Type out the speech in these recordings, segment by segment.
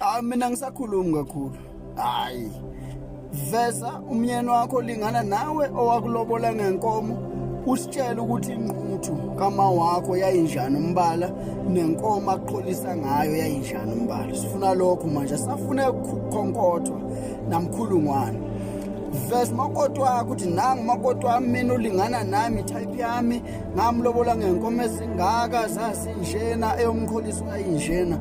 Ah mina ngisakhulumi kakhulu. Hayi. Veza umyeni wakho lingana nawe owakulobola ngenkomo usitshela ukuthi inquthu kama wakho yayinjani umbala nenkomo aqholisa ngayo yayinjani umbala. Sifuna lokho manje safuna ukukhonkotha namkhulungwane. Veza makoti wakho ukuthi nangu makoti wami mina ulingana nami type yami ngamlobola ngenkomo ezingaka zasinjena eyomkholisi wayinjena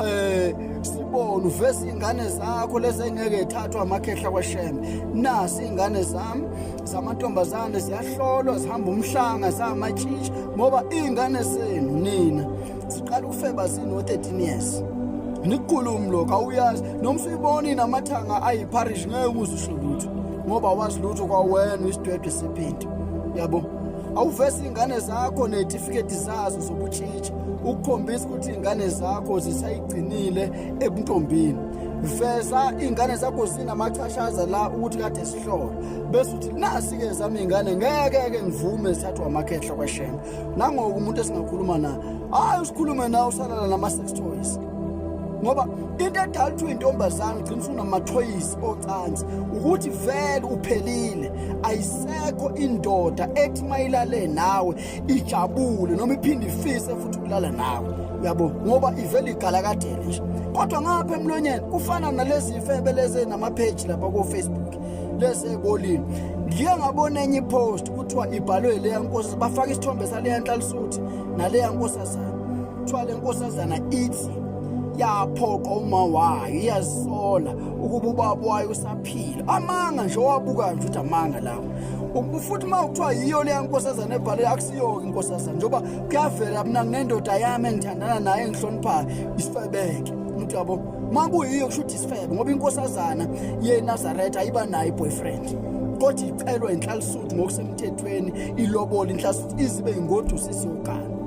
eh sibona uveza ingane zakho lezi engeke ethathwa amakhehla kwashembe nasi ingane zami zamantombazane ziyahlolwa zihamba umhlanga zamatshishi ngoba ingane zenu nina ziqala ukufeba zino 13 years nikhulumu lokho awuyazi noma usuyibona inamathanga ayiparish ngeke uze usho lutho ngoba wazi lutho kwawena isidwedwe sephinto yabo awuvesi iy'ngane zakho ney'tifiketi zazo zobutshitshi ukukhombisa ukuthi iy'ngane zakho zisayigcinile ebuntombini veza iy'ngane zakho zinamachashaza la ukuthi kade sihlola bese uthi nasi-ke zami iy'ngane ngeke-ke ngivume zithathwa amakhehla kweshembe nangoku umuntu esingakhuluma naye hhayi usikhulume nawe usalala nama-sex toys ngoba into edala ukuthi uyintombazane ugcina usunamathoyisi ocansi ukuthi vele uphelile ayisekho indoda ethi mayilale nawe ijabule noma iphinde ifise futhi ukulala nawe uyabo ngoba ivele igalakadele nje kodwa ngapha emlonyeni kufana nalezi ifebe lezi namapheji lapha kofacebook lezi ebolini ngiye ngabona enye ipost kuthiwa ibhalwe leya nkosi bafake isithombe saleya nhlalisuthi naleya nkosazana kuthiwa le nkosazana ithi yaphoqa uma wayo iyazisola ukuba ubaba wayo usaphila amanga nje owabukayo nje ukuthi amanga lawo futhi uma kuthiwa yiyo leya nkosazana ebhale akusiyo-ke inkosazana njengoba kuyavela mna nginendoda yami engithandana naye engihloniphayo isifebeke umuntu yabo uma kuyiyo kusho ukuthi isifebe ngoba inkosazana yenazaretha ayiba nayo i-boyfriend kodwa icelwa inhlalisuthi ngokusemthethweni ilobole inhlalisuthi izibe ingodusi isiyogana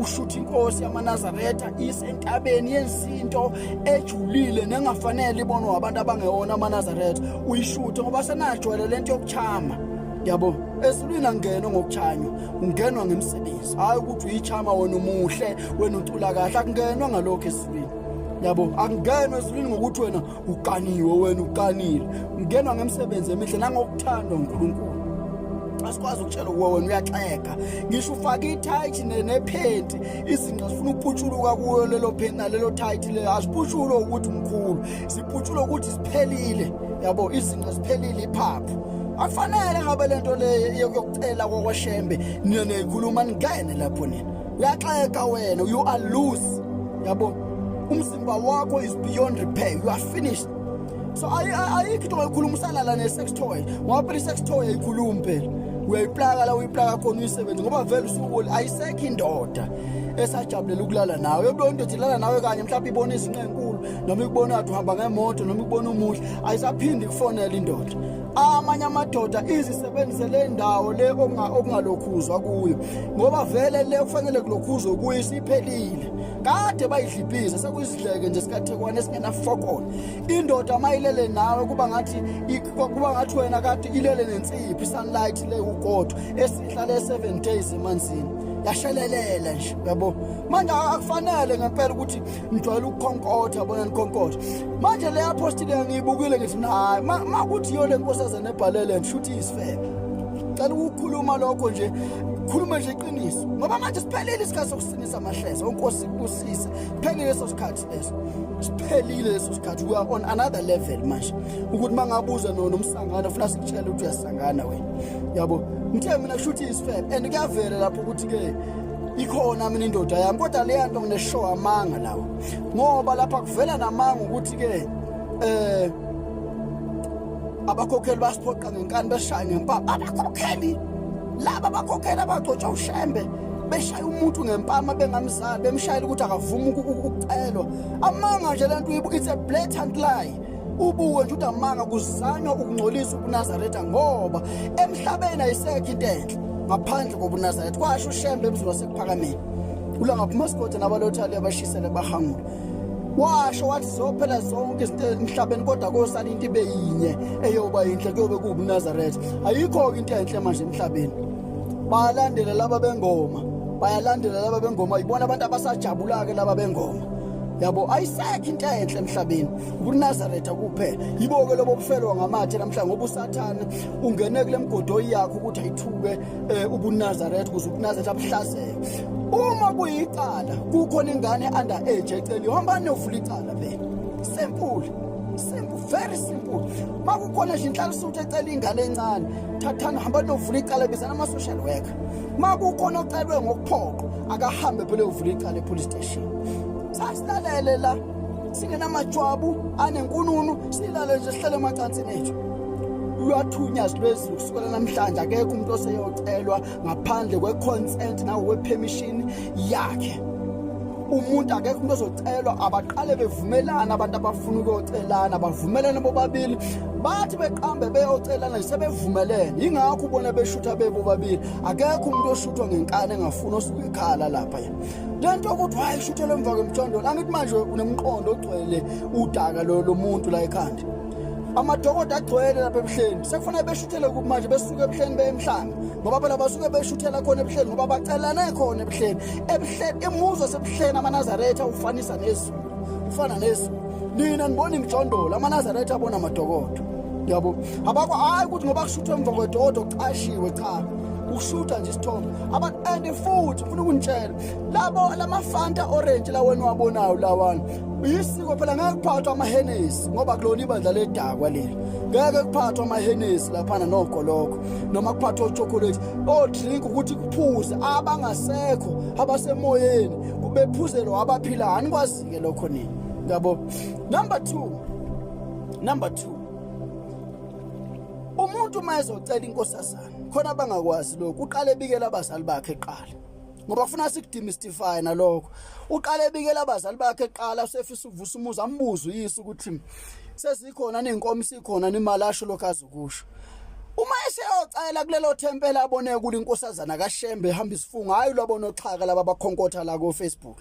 ushutha inkosi yamanazaretha isentabeni yensinto ejulile nengafanele ibonwe wabantu abangewona amanazaretha uyishuthe ngoba senajwayele le nto yokuchama yabo esilwini angeno ngokuchanywa ungenwa ngemsebenzi hhayi ukuthi uyichama wena umuhle wena ucula kahle akungenwa ngalokho esilwini yabo akungenwa esilwini ngokuthi wena uqaniwe wena uqanile ungenwa ngemsebenzi emihle nangokuthanda uNkulunkulu asikwazi ukutshela kuwe wena uyaxeka ngisho ufake ithayithi nephenti izinqa zifuna ukuputshuluka kuyo lelo phenti nalelo thayithi lelo aziputshulwe ukuthi mkhulu ziputshulwe ukuthi ziphelile yabo izinqa ziphelile iphaphu akufanele ngabe lento le yokucela kwakwashembe nina niyikhuluma ningene lapho nina uyaxeka wena you are loose yabo umzimba wakho is beyond repair you are finished so ayikho into oyikhuluma usalala ne-sex toy wapela i-sex toy ayikhulumi phela uyayiplaka la uyiplaka khona uyisebenzi ngoba vele usuku ayisekho indoda esajabulela ukulala nawe yobona into thilala nawe kanye mhlawumbe ibona izinqenkulu noma ikubona athi uhamba ngemoto noma ikubona umuhle ayisaphindi kufonela indoda amanye amadoda izisebenzise le ndawo le okungalokhuzwa kuyo ngoba vele le kufanele kulokhuzwe kuyo isiphelile kade bayidlibhize sekuyizidleke nje sikathekwane esingenafokona indoda mayilele nawe kuba ngathi kuba ngathi wena kade ilele nensiphi sunlight le ukodwa esihlale 7 days emanzini yashelelela nje yabo manje akufanele ngempela ukuthi ngijwayele ukukhonkotha bona nikhonkotha manje le apostile ngiyibukile ngithi nayi ma kuthi yona enkosazana ebhalele ngisho ukuthi isifebe cela ukukhuluma lokho nje khuluma nje iqiniso ngoba manje siphelile isikhathi sokusinisa amahleza unkosi kusise siphelile leso sikhathi leso siphelile leso sikhathi we are on another level manje ukuthi mangabuza no nomsangana ufuna sikutshela ukuthi uyasangana wena yabo ngithe mina kusho ukuthi isifebe and kuyavela lapho ukuthi ke ikhona mina indoda yami kodwa leya nto ngineshow amanga lawo ngoba lapha kuvela namanga ukuthi-ke eh abakhokheli basiphoqa ngenkani beshaya ngempama abakhokheli laba bakhokheli abagcotshwa ushembe beshaya umuntu ngempama bengamzali bemshayela ukuthi akavumi ukucelwa amanga nje le nto it's a blatant lie ubuke nje udamanga kuzanywa ukungcolisa ubunazaretha ngoba emhlabeni ayisekho into enhle ngaphandle kobunazaretha kwasho ushembe emzini wasekuphakameni ulanga phumasikode nabalothali abashisele bahangula washo wathi zophela zonke izinto emhlabeni kodwa kosala into ibe yinye eyoba yinhle kuyobe kuwubunazaretha ayikho-ke into enhle manje emhlabeni bayalandela laba bengoma bayalandela laba bengoma yibona abantu abasajabula-ke laba bengoma yabo ayisekho into enhle emhlabeni ukunazaretha kuphela yibo-ke lobo bufelwa ngamathe namhlanje ngoba usathane ungene kule mgodoyi yakho ukuthi ayithuke um ubunazaretha ukuze ubunazaretha buhlaseke uma kuyicala kukhona ingane under age eceli hamba niyovula icala phela simple simple very simple uma kukhona nje inhlalisuthi ecela ingane encane thathani hamba niyovula icala bizana ama-social worker uma kukhona ocelwe ngokuphoqo akahambe phela uyovula icala epolice sasilalele la singenamajwabu anenkununu silale nje sihlele emacansini ethu lwathunyazwa lwezulu kusukela namhlanje akekho umuntu oseyocelwa ngaphandle kwe-consent nangokwepemishini yakhe umuntu akekho umuntu ozocelwa abaqale bevumelana abantu abafuna ukuyocelana bavumelane bobabili bathi beqambe beyocelana sebevumelene yingakho ubona beshutha bebobabili akekho umuntu oshuthwa ngenkani engafuni osuke ekhala lapha lento ukuthi hayi shuthelwe emva kwemjondolo angithi manje unemqondo ogcwele udaka lo lomuntu la ekhanda amadokoda agcwele lapha ebuhleni sekufanele beshuthele kuphi manje besuke ebuhleni beyemhlanga ngoba phela basuke beshuthela khona ebuhleni ngoba bacelane khona ebuhleni ebuhleni imuzi wasebuhleni amanazaretha ufanisa nezulu ufana nezulu nina nibona imijondolo amanazaretha abona amadokodo yabo abakho hayi ukuthi ngoba kushuthwe emva kwedokodo kucashiwe cha ukushutha nje isithombe and futhi ufuna ukungitshela labo lamafanta orange la wena wabonayo lawana yisiko phela ngeke kuphathwa amahenesi ngoba kulona ibandla ledakwa leli ngeke kuphathwa amahenesi laphana noko lokho noma kuphathwa uchocolate odrink ukuthi kuphuze abangasekho abasemoyeni kubephuzelwa abaphilayo anikwazike lokho nini ngabo number 2 number 2 umuntu uma ezocela inkosazana khona abangakwazi lokhu uqale ebikela abazali bakhe eqala ngoba kufuna sikudemystify nalokho uqale ebikela abazali bakhe eqala usefisa ukuvusa umuzi ambuze uyise ukuthi sezikhona nenkomo sikhona nemali asho lokho azokusho uma eseyocela kulelo thempela abone kuli inkosazana kaShembe ehamba isifungo hayi lwabona oxhaka laba bakhonkotha la ko Facebook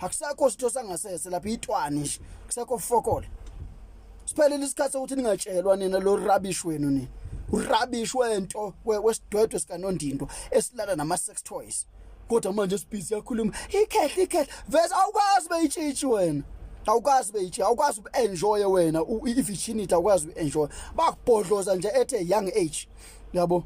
akusakho sitho sangasese lapha itwani nje kusekho fokole siphelile isikhathi sokuthi ningatshelwa nina lo rubbish wenu nina urubbish wento wesidwedwe sikanondindwa esilala nama sex toys kodwa manje sibhizi yakhuluma ikhehle ikhehle vese awukwazi beyitshitshi wena awukwazi beyitshitshi awukwazi uenjoy wena i-virginity awukwazi uenjoy bakubhodloza nje ethe young age yabo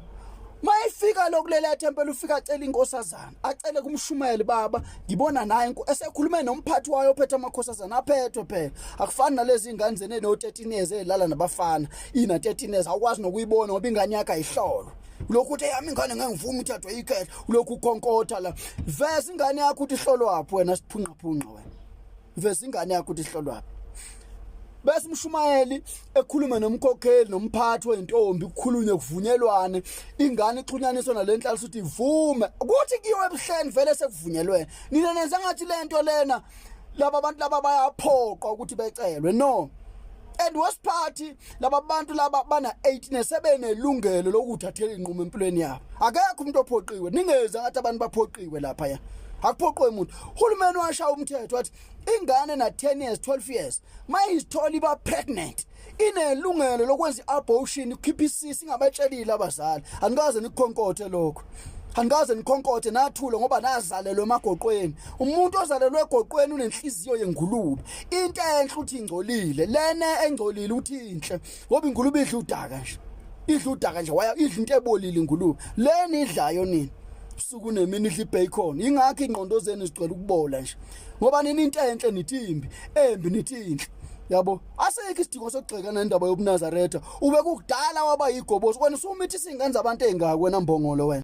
mayefika lokulela ethempela ufika acela inkosazana acele kumshumayeli baba ngibona naye esekhulume nomphathi wayo ophethe amakhosazana aphethwe phela akufani nalezi ingane zene no 13 years elala nabafana ina 13 years awukwazi nokuyibona ngoba ingane yakhe ayihlolo lokhu uthi yami ingane ngeke ngivuma uthathwe ikhethe lokhu ukonkotha la veza ingane yakho uthi hlolwaphi wena siphunqaphunqa wena veza ingane yakho ukuthi ihlolwapi bese umshumayeli ekhulume nomkhokheli nomphathi wentombi kukhulunywe kuvunyelwane ingane ixhunyaniswa nalenhlalo ukuthi ivume ukuthi kiyo ebuhleni vele sekuvunyelwene nina nenza ngathi lento lena laba bantu laba bayaphoqa ukuthi becelwe no and worst party laba bantu laba bana 18 sebenelungelo lokuthathela inqumo empilweni yabo akekho umuntu ophoqiwe ningeze ngathi abantu baphoqiwe lapha ya akuphoqwe umuntu uhulumeni washa umthetho wathi ingane na 10 years 12 years mayizithola iba pregnant inelungelo lokwenza i-abortion ikhipha isisi ingabatshelile abazali anikaze nikukhonkothe lokho anikaze nikhonkothe nathule ngoba nazalelwe emagoqweni umuntu ozalelwe egoqweni unenhliziyo yengulube into enhle uthi ingcolile lena engcolile uthi inhle ngoba ingulube idla udaka nje idla udaka nje waya idla into ebolile ingulube lena idlayo nini usuku nemini idla ibacon ingakho ingqondo zenu zigcwele ukubola nje ngoba nini into enhle nithi imbi embi nithi inhle yabo asekho isidingo sokugxeka nendaba yobunazaretha ube kukudala waba yigobosi wena usumithi singenza abantu engaka wena mbongolo wena